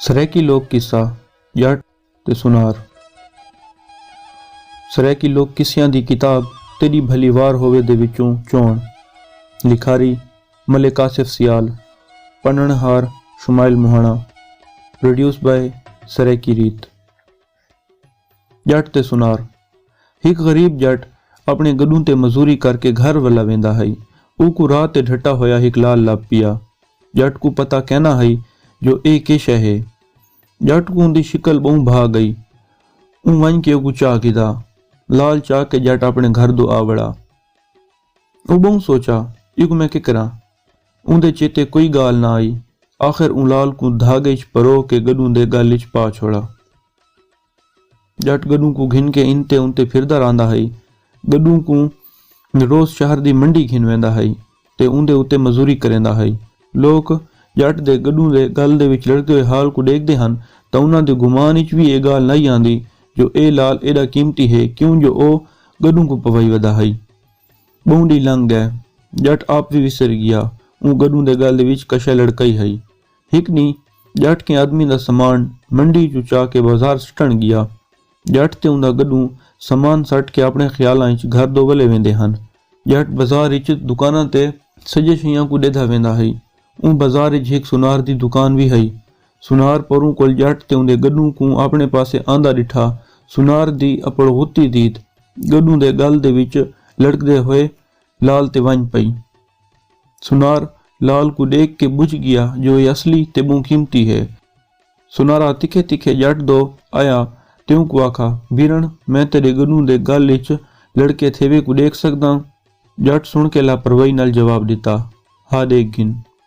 سرائیکی لوک قصہ جٹ تے سنار سرائیکی لوک قصیاں دی کتاب تیݙی بھلی وار ہووے دے وچوں چوݨ لکھاری ملک آصف سیال پڑھݨ ہار شمائل مہاݨا Produced by سرائیکی ریت۔ ڄٹ تے سنار۔ ہک غریب ڄٹ اپݨے گݙوں تے مزوری کر کے گھر ولا ویندا ہئی۔ اوکوں راہ تے ڈھٹا ہویا ہک لال لبھ پیا۔ ڄٹ کوں پتہ کینا ہئی جو ایہ کے شے ہے۔ ڄٹ کوں اوندی شکل ٻہوں بھا ڳئی۔ اوں ونڄ کے اوکوں چا گھدا۔ لال چا کے ڄٹ اپݨے گھر دو آ وڑا۔ او ٻہوں سوچا، ایکوں میں کے کراں؟ اوندے چیتے کوئی ڳالھ نہ آئی۔ آخر اوں لال کوں دھاڳے اچ پروہ کے گݙوں دے ڳل اچ پا چھوڑا۔ ڄٹ گݙوں کوں گھن کے انتے انتے پھردا رہندا ہئی۔ گݙوں کوں روز شہر دی منڈی گھن ویندا ہئی تے اوندے اتے مزوری کریندا ہئی۔ لوک ڄٹ دے گݙوں دے ڳل دے وچ لڑکدے ہوئے حال کوں ݙیکھدے ہن تاں انہاں دے گمان اچ وی اے ڳالھ نہ آندی جو اے لال ایݙا قیمتی ہے کیوں جو او گݙوں کوں پوائی ودا ہئی۔ ٻہوں ݙینہہ لنگھ ڳئے۔ ڄٹ آپ وی وسر ڳیا۔ اوں گݙوں دے ڳل دے وچ کشے لڑکائی ہئی۔ ہک ݙینہہ ڄٹ کہیں آدمی دا سامان منڈی ءچوں چا کے بازار سٹݨ ڳیا۔ ڄٹ تے اوندا گݙوں سامان سٹ کے آپݨے خیالاں ءچ گھر دو ولے ویندے ہن۔ ڄٹ بازار ءچ دکاناں تے سڄے شئیاں کوں ݙیدھا ویندا ہئی۔ اوں بازار ءچ ہک سونار دی دکان وی ہئی۔ سنار پروں کول ڄٹ تے اوندے گݙوں کوں آپݨے پاسے آندا ݙٹھا۔ سنار دی اپڑ غتی دید گݙوں دے ڳل دے وچ لڑکدے ہوئے لال تے ونڄ پئی۔ سنار لال کوں ݙیکھ کے ٻجھ ڳیا جو ایہ اصلی تے ٻہوں قیمتی ہے۔ سنارا تکھے تکھے ڄٹ دو آیا تے اونکوں آکھا، بیرݨ میں تیݙے گݙوں دے ڳل وچ لڑکے تھیوے کوں ݙیکھ سڳداں؟ ڄٹ سݨ کے لاپروائی نال جواب ݙتا، ہا ݙیکھ گھن۔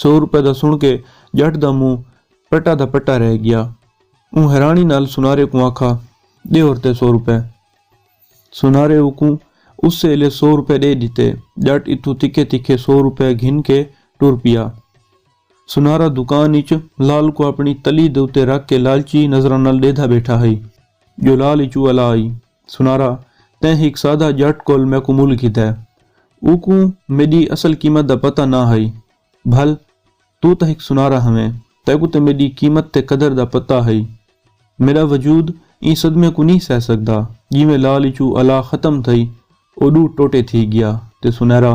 سو روپے دا سݨ کے ڄٹ دا منہ پٹا دا پٹا رہ ڳیا۔ اوں حیرانی نال سنارے کوں آکھا، ݙے ہورتے سو روپے۔ سنارے اوکوں اسے ایلے سو روپے ݙے ݙتے۔ ڄٹ اتھوں تکھے تکھے سو روپے گھن کے ٹر پیا۔ سنارا دکان اچ لال کوں آپݨی تلی دے اتے رکھ کے لالچی نظراں نال ݙیہدا ٻیٹھا ہئی جو لال اچ الا آئی۔ سنارا، تیں ہک سادہ ڄٹ کول میکوں مول کیتا ہے۔ اوکوں میݙی اصل قیمت دا پتہ نہ ہئی۔ بھل! توں تاں ہک سنارا ہاویں، تیکوں تاں میݙی قیمت تے قدر دا پتہ ہئی۔ میݙا وجود ایں صدمے کوں نھیں سہہ سڳدا۔ جیویں لال اچوں الا ختم تھئی، او ݙو ٹوٹے تھی ڳیا تے سنیرا،